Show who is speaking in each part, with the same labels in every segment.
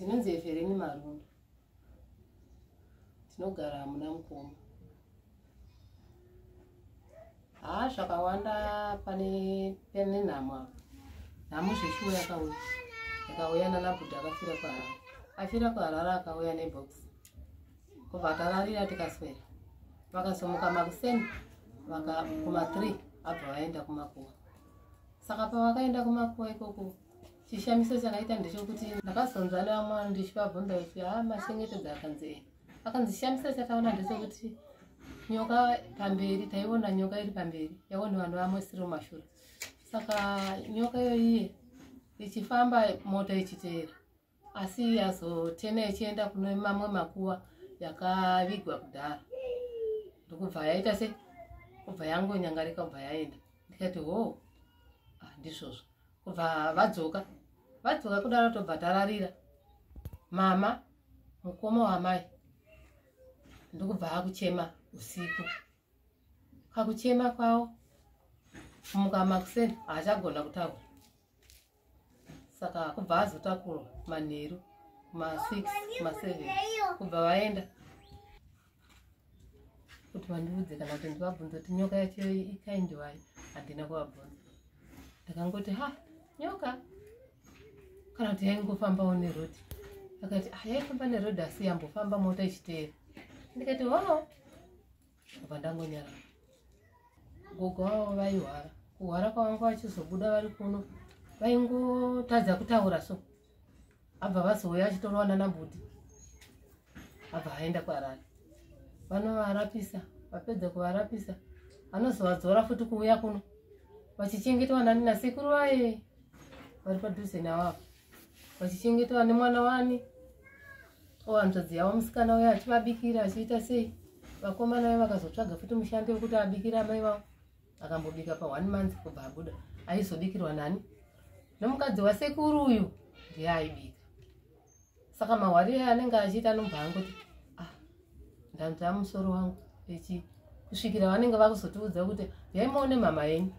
Speaker 1: ndinonzi evereni marundu ndinogara hamuna mukoma haa zvakawanda pane pane nhamo apa nhamo zveshuwo yakauya yakauya nanabhuda akafira kwaharara afira kwaharara akauya nebox kubva akararira tikaswera vakazomuka makuseni vakakuma three abva vaenda kumakuwa saka pavakaenda kumakuwa ikoko chishamiso chakaita ndechokuti ndakazonzwa nevamwe vanhu ndichivabvunza kuti ha ah, machengetedza akanzi e akanzi chishamiso chataona ndechokuti nyoka pamberi taiona nyoka iri pamberi yaone vanhu vamwe siri mumashura saka nyoka iyoyiye ichifamba mota ichiteera asi yazotena ichienda kune mamwe makuva yakavigwa kudhara ndokubva yaita se kubva yangonyangarika kubva yaenda ndikati ho ah, ndizvozvo kubva vadzoka vadzoka kudaro tobva tararira mama mukoma wamai ndokubva akuchema usiku kakuchema kwavo kumuka makuseni haachagona kutaura saka kubva azotakurwa manheru ma6 ma7 kubva vaenda kuti vandiudze kana kuti ndivabvunza kuti nyoka yacho ikaindiwai handina kuvabvunza ndakangoti ha nyoka kana kuti yaingofambawo nerodi akati ah, yaifamba nerodi asi yambofamba mota ichiteera ndikati ho apa ndangonyara gogo vavo vaihwara kuhwara kwavanga vachizobuda vari kuno vaingotadza kutaura so abva vazouya achitorova nana mbuti abva aenda kwarari vanovarapisa vapedza kuvarapisa anozovadzora futi kuuya kuno vachichengetwa nani nasekuru vaye vari padhuze navavo vachichengetwa nemwana wani o hanzvadzi yavo musikana uye achivabikira achiita sei vakomana vaye vakazotsvaga futi mushandi wekuti abikira amai vavo akambobika pa one month kubva abuda aizobikirwa nani nomukadzi wasekuru uyu ndiye aibika saka mahwari aye anenge achiita anobva angoti ah ndanzva musoro wangu echi kusvikira vanenge vakuzotiudza kuti yaimaone mama yenyu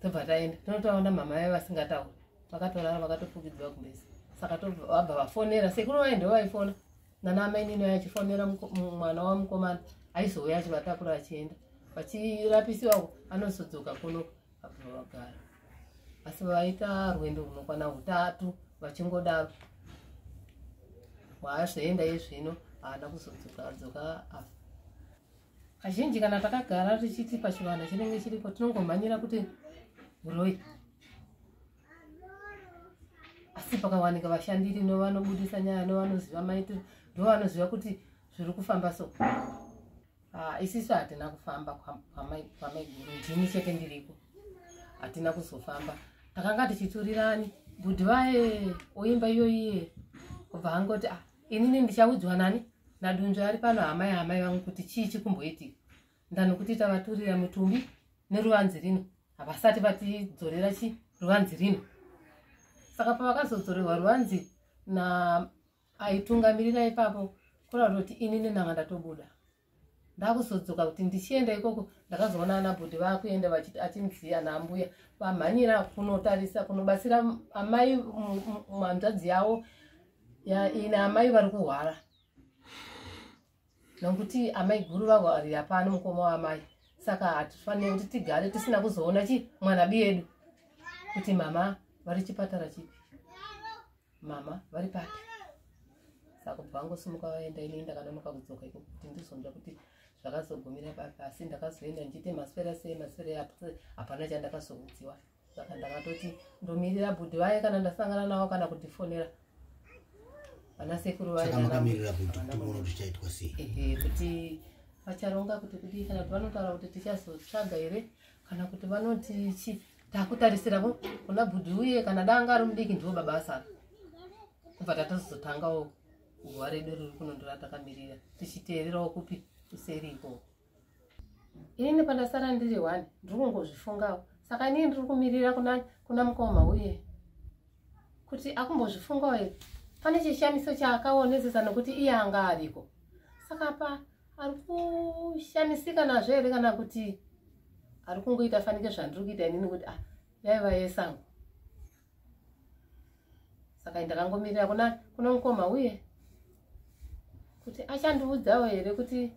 Speaker 1: tobva taenda tinotaona mama vaye vasingatauri vakatorara vakatofukidzwa kumbesa saka vabva vafonera sekuru vaye ndo vaifona nana amainini vaye achifonera mwana wamukomana aizouya achivatakura achienda vachirapisiwako anosodzoka kuno abva vagara asi vaita rwendo runokwana utatu vachingodaro waazvoenda izvino haana kuzodzoka adzoka afa kazhinji kana takagara tichiti pachivanhu chinenge chiripo tinongomhanyira kuti uroi asi pakawanika vashandiri novanobudisa nyaya novanoziva maitiro ndovanoziva kuti zviri kufamba so ah, isisu hatina kufamba kwamaiguru ndini chete ndiriko hatina kuzofamba takanga tichiturirani bhudhi vaye oimba iyoyiye kubva angoti ah, inini ndichaudzwa nani nadunzvi ari pano hama yahamai vangu kuti chii chikumboitika ndanokuti tavaturira mutumbi neruvanzi rino havasati vatidzorera chi ruvanzi rino saka pavakazodzorerwa ruvanzi na aitungamirira ipapo kurauta kuti inini nanga ndatobuda ndakuzodzoka kuti ndichienda ikoko ndakazoona ana bhudhi vakuenda vachiti achinziya naambuya vamhanyira kunotarisa kunobatsira amai hanzvadzi yavo ine amai vari kuhwara nokuti amai guru vahwarira pano mukoma waamai saka hatifanire kuti tigare tisina kuzoona chi mwana biyedu kuti mama vari chipatara chipi mama vari papi saka kubva vangosimuka vaenda inei ndakanonoka kudzoka iko kuti ndizonzva kuti zvakazogumira papi asi ndakazoenda ndichiite maswera sei maswera eapo hapana chandakazoudziwa saka ndakatoti ndomirira bhudhi vaye kana ndasangana navo kana kutifonera vana sekuru vaeamirira bhudhi kuti
Speaker 2: uona kuti chaitwa sei kuti
Speaker 1: vacharonga kuti kudii kana kuti vanotaura kuti tichazotsvaga here kana kuti vanoti chii takutarisira ko kuna bhudhi uye kana danga ari mudiki ndivo baba asara kubva tatozotangawo guva redu riri kunondora takamirira tichiteererawo kupi kuseri ikoko ini pandasara ndiri one ndiri kungozvifungawo saka inii ndiri kumirira kuna kuna mukoma uye kuti akumbozvifungawo here pane chishamiso chaakaonezesa nokuti iye anga ariko saka pa ari kushamisika nazvo here kana kuti ari kungoita fanike zvandiri kuita inini kuti ah yaiva yesango saka ndakangomirira kuna kuna mukoma uye kuti achandiudzawo here kuti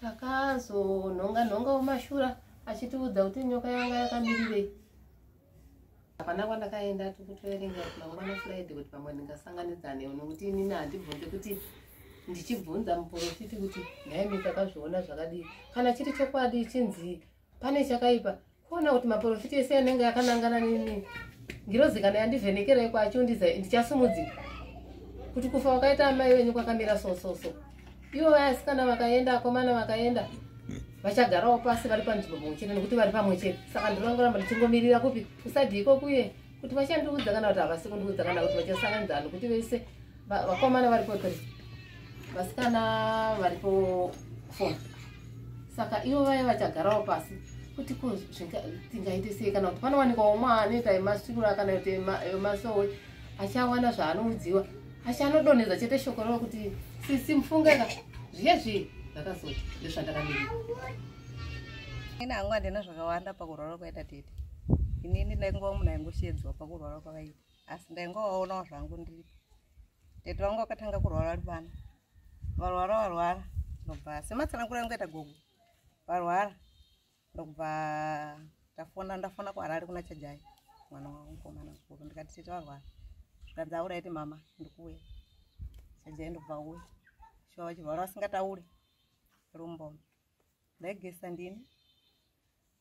Speaker 1: takazonhonga nhonga wemashura achitiudza kuti nyoka yanga yakamirirei hapana kwandakaenda tikutoerenga mangwana friday kuti pamwe ndingasanganidzane nokuti inini handibvunze kuti ndichibvunza muporofiti kuti nhai mikakazviona zvakadii kana chiri chokwadi chinzi pane chakaipa kuona kuti maporofiti ese anenge akanangana nini ngirozi kana yandivhenekerai kwacho ndichasumudzika kuti kufa wakaita amai wenyu kwakamira sososo so, so. ivo vayasikana vakaenda akomana vakaenda vachagarawo pasi vari panzvimbo pamwe chete nekuti vari pamwe chete saka ndinongoramba ndichingomirira kupi kusadii kokuye kuti vachandiudza kana kuti havasi kundiudza kana kuti vachasanganidzana nokuti vese vakomana varipo three vasikana varipo four saka ivo vaya vachagarawo pasi kuti ko tingaite sei kana kuti panowanikwa umwe anoita emasikura kana kuti emasowe achawana zvaanoudziwa asi anodonhedza chete shoko ravo kuti sisi mufungeka zviye zviye ndakazoti
Speaker 3: ndezvandakamira ini hangu handina zvakawanda pakurwara kwaita tete inini ndaingova munhu aingoshedzwa pakurwara kwavaita asi ndaingovaonawo zvangu ndiripo tete vangu vakatanga kurwara vari vana varwara varwara nobva sematsanangura angoita gogo varwara ndokubva ndafona ndafona kuharare kuna chajai mwana wangu mukomana mukuru ndikati tete varwara zvikanzi aura iti mama ndikuuya chajai ndokubva uya shuwa vachivhara vasingataure rumboma ndaigesa ndini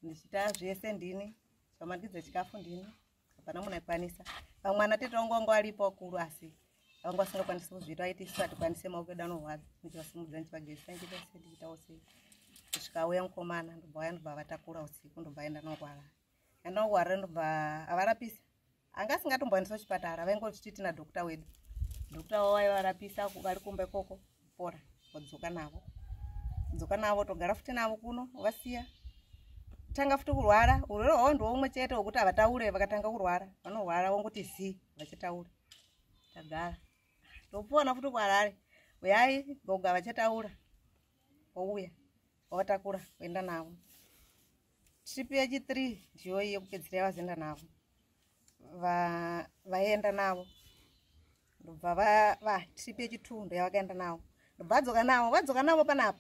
Speaker 3: ndichita zvese ndini chamandidza chikafu ndini hapana munhu aikwanisa vamwe ana tete vangu vanga varipo vakuru asi vanga vasingakwanisi kuzviita vaiti isu hatikwanise maoko edu anorwadza ndichivasimudza ndichivagezisa ndichivese ndichiitawo sei kusvika auya mukomana ndobva vaya ndobva vatakura usiku ndobva aenda nongwara andongwara ndobva avarapisa anga asingatomboendesa kuchipatara vaingochiti tina dokta wedu dokta wavo vaivarapisa vari kumba ikoko pora wadzoka navo dzoka navo togara futi navo kuno vasiya tanga futi kurwara urwere hwavo ndiwo umwe chete wekuti havataure vakatanga kurwara vanorwara vonguti zi vachataura tagara topona futi kuharare uyai goga vachataura wouya wavatakura kuenda navo trip yechithree ndiyoyi yekupedzisira yavazoenda navo vaenda navo ndobva vatrip yechitundo yavakaenda navo ndobva vadzoka navo vadzoka navo panapa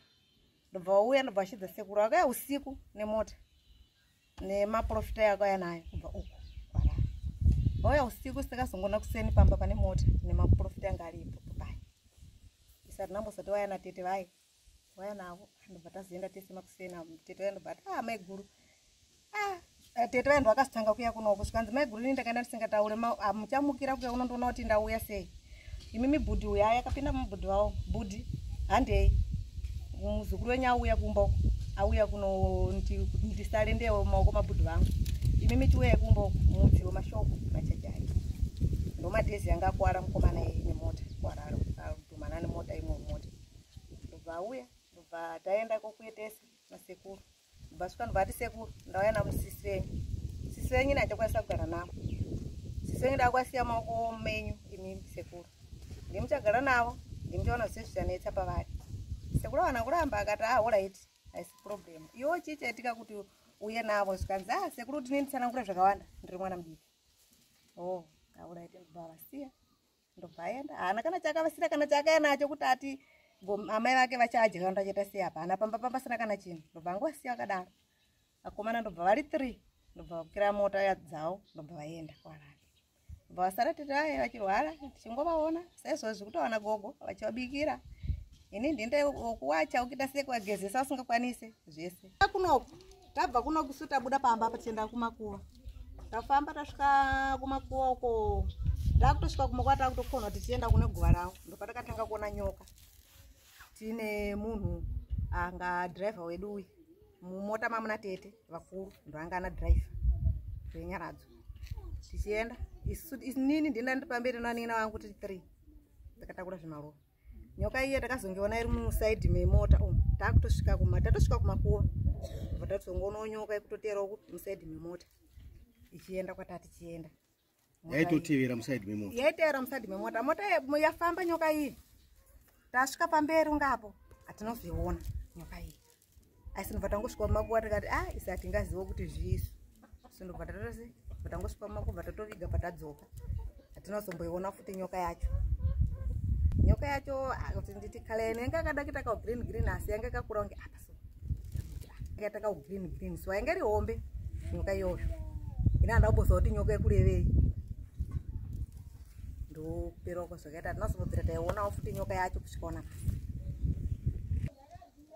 Speaker 3: ndobva wauya ndobva vachidza sekuru vakauya usiku nemota nemaprofita yakauya nayo kubva uku vauya usiku sikazongona kuseni pamba pane mota nemaprofita yanga aripo papai isati nambosati vaya natete vaye vaya navo ndobva tazoenda tese makusena tete vaya ndobva ati ah maiguru ah eh, tete vaya ndovakazotanga kuya kunoko zvikanzi maiguru ini ndakaenda ndisingataure ah, muchamukira kuya unondoona kuti ndauya sei imi mibhudhi uya yakapinda mubhudhi vavo bhudhi handei muzukuru wenyu auya kumba uko auya kuno ndisale ndewo maoko mabhudhi vangu imi mitiweye kumba uko mudziwo mashoko machajaki ndomadhezi yanga akuwara mukomana nemota kuwara adumanani mota imwe mota ndobva auya ndobva taenda kokuetesa nasekuru ndobva svika ndobva ati sekuru ndauya navo sisi venyu sisi venyu ini handikwanisa kugara navo sisi venyu ndakwasiya maoko menyu imimi sekuru ndimuchagara navo ndimuchaona zvise zvichanetsa pavari sekuru awana kuramba akati ahorit ah, haisi problem iwo chii chaitika kuti uye navo zvikanzi a ah, sekuru kuti nenditsanangura zvakawanda ndiri mwana mudiki o oh, ahorit ndobva vasiya ndobva aenda haana kana chaakavasira kana chaakaya nacho kuti ati amai vake vachadya kana tachaita sei apa hana pamba pamba pasina kana chinhu ndobva angowasiya vakadaro akomana ndobva vari three ndobva vakira mota yadzao ndobva vaenda kwarara ndobva vasara tete vaye vachirwara tichingovaona saizvozvi kutowana gogo vachivabikira ini ndinde wokuwacha ukita sekuwagezesa usingakwanise zvese akunoku tabva kuno kusu tabuda pamba apa tienda kumakuva tafamba tasvika kumakuva uko takutosvika kumakuva takutokonwa tichienda kune guva ravo ndopatakatanga kuona nyoka tiine munhu anga driver wedu uyu mumota mamuna tete vakuru ndoanga ana driver zvenyaradzo tichienda isu nini ndinda ndipamberi noanina vangu tiri three ndakatakura zvimarova nyoka iye takazongiona iri musaidi memota umu takutosvika kuma tatosvika kumakuva bva tatizongoonawo nyoka ikutoteerawo ku musaidi memota ichienda kwatati chienda yaitotevera
Speaker 2: musaidi memota yaitevera musaidi memota
Speaker 3: mota yafamba nyoka iyi tasvika pamberi ungapo hatinozoiona nyoka iyi asi ndobva tangosvika kumakuva tikati a ah, isa hatingazivo kuti zvisu so ndobva tatose bva tangosvika kumakuva tatoviga bva tadzoka hatina kuzomboiona futi nyoka yacho nyoka yacho ah, kuti nditi kala yene yanga akada kuita kaugreen green asi yanga akakura kunge apa so akaita kaugreen green so yanga iri hombe nyoka iyoyo ine handa kumboziva kuti nyoka yekurevei ndoperwa kwazvakaita hatina kuzombodzira taionawo futi nyoka yacho kusvikaona pasi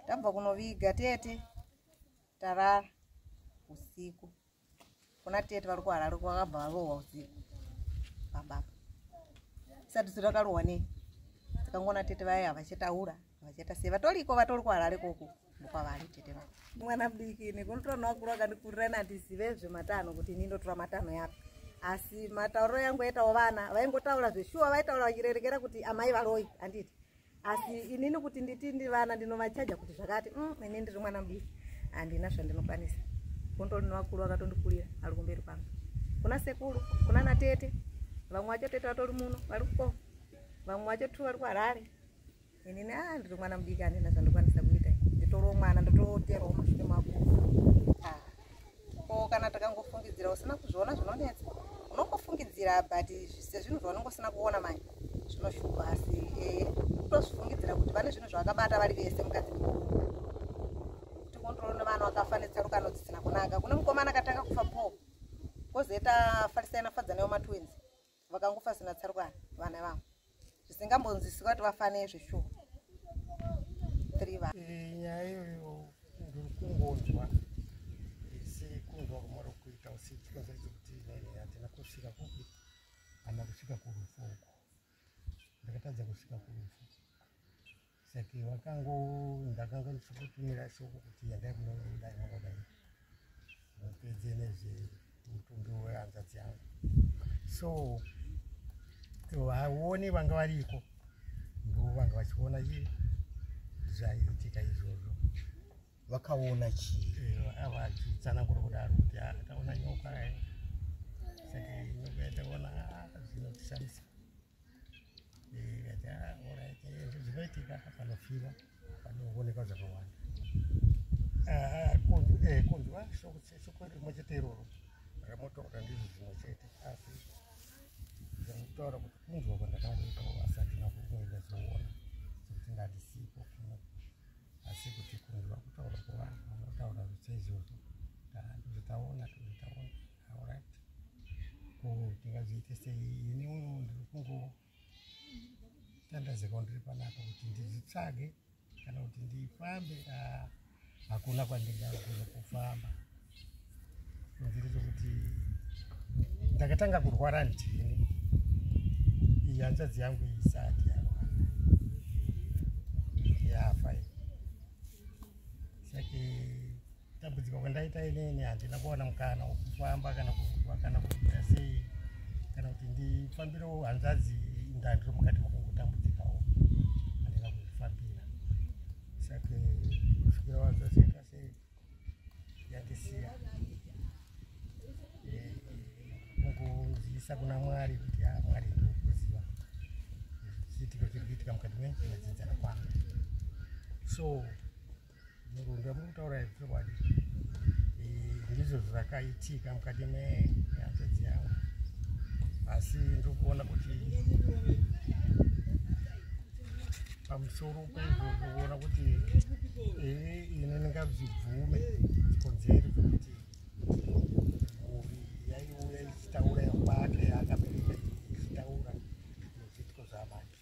Speaker 3: tabva kunoviga tete tarara usiku kuna tete vari kuharare kwakabva varohwa usiku pababa isati su rakarohwa nei tikangoona tete vaye havachataura havachata sei vatoriko vatori kuharare koko mukwavari tete vavo mwana mudiki nekunotora nowakuru akandikurira ini handizive zvematano kuti ini ndotora matano yapi asi matauriro yangu aitawo vana vaingotaura zveshuwa vaitaura vachirerekera kuti amai varoi handiti asi inini kuti nditi ndivana ndinovachaja kuti zvakati mm, ini ndiri mwana mudiki handina zvandinokwanisa gondo rino vakuru vakatondikurira ari kumberi kwangu kuna sekuru kuna natete vamwe vacho tete vatori muno vari kuko vamwe vacho tu vari kuharare inini a ah, ndiri mwana mudiki handina zvandikwanisa kuita nditoriwo mwana ndototerawo masvike makuru ko kana takangofungidzira usina kuzviona zvinonetsa unongofungidzira but sezvinhu zvaunenge usina kuona manje zvinoshupa asi eh, kutozvifungidzira kuti vane zvinhu zvavakabata vari vese mukadzi kuti kondrolo nevana vakafa netsarukano dzisina kunaka kune mukomana akatanga kufa po kozoita farisaina fadzana yomatwins vakangofa sina tsarukana vana vavo zvisingambonzwisika kuti vafanei zveshuwa three va eh, nyaya iyoyo
Speaker 4: ndiri kungonzwa isi kunzwa kumara kuita usi tikonzaidzo kuti hatina kusvika kupi kana kusvika kurufu uko ndakatadza kusvika kurufu saka vakango ndakanga ndichikutumira shoko kuti yandai kunoudai mwangodai mupedze nezvemutumbi wehanzadzi yangu so vaone vanga variko ndo vanga vachiona chii zvaiitika izvozvo vakaona
Speaker 2: chii eh, vachitsanangura
Speaker 4: kudaro kuti ah, taona nyoka eh. saka nyoka yataona ah, zvinotishamisa zvinoitika panofira panoonekwa zvakawanda ah, eh, kunzwa shoko rimwe chete iroro ramotaura ndizvo zvimwe chete asi zvakutaura kuti kunzwa kwandakaoneka asati nakuenda zoona sekuti ngatisipo kumwe asi kuti kunzwa kutaura kwevanhu vanotaura zvichaizvozvo ndozvitaona tozvitaona ndingazoite sei ini uno ndiri kungotandazeka ndiri panapa kuti ndizvitsvage kana kuti ndifambe ah, hakuna kwandingagona kufamba nziri zvokuti ndakatanga kurwara ndini iyi hanzvadzi yangu isati yarwara yafa sake dambudziko kwandaita inini handina kuwana mukana wekufamba kana kuva kana kuita sei kana kuti ndifambirewo hanzvadzi ndandiri mukati makungotambudzikawo handina kuzvifambira sake kusvikira wanzvaziita sei yandisiya eh, mukuzivisa kuna mwari kuti a ah, mwari ndikuziva zviitiko zviri kuitika mukati memadzidzana kwangu so ndamutaura chokwadi ndizvo zvakaitika mukati mehanzvadzi yavo asi ndikuona kuti pamusoro pezvo kuona kuti iri ine ndingazvibvume chikonzero chokuti mhuri yaiuya ichitaura yakwake akabereka ichitaura nezvitiko zvamake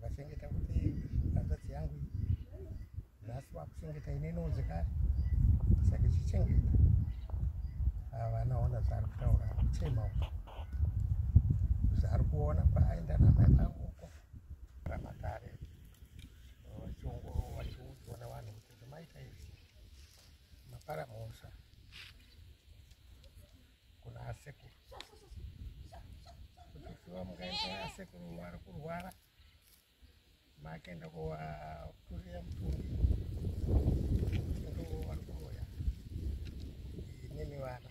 Speaker 4: vachengeta kuti hanzvadzi yangu nhasi vakuchengeta ine inonzi kare saka ichichengeta havana ona zvaari kutaura kuchema uko zvaari kuona paaenda namai vangu uko ramakare vachiongorova vachiudzwa navanhu kuti zvamaita izvi mapara mhosva kuna asekuru kutufiwa mukaita asekuru wari kurwara maakaenda kuvakurira mutumbi ndo wari kuroya nemi vana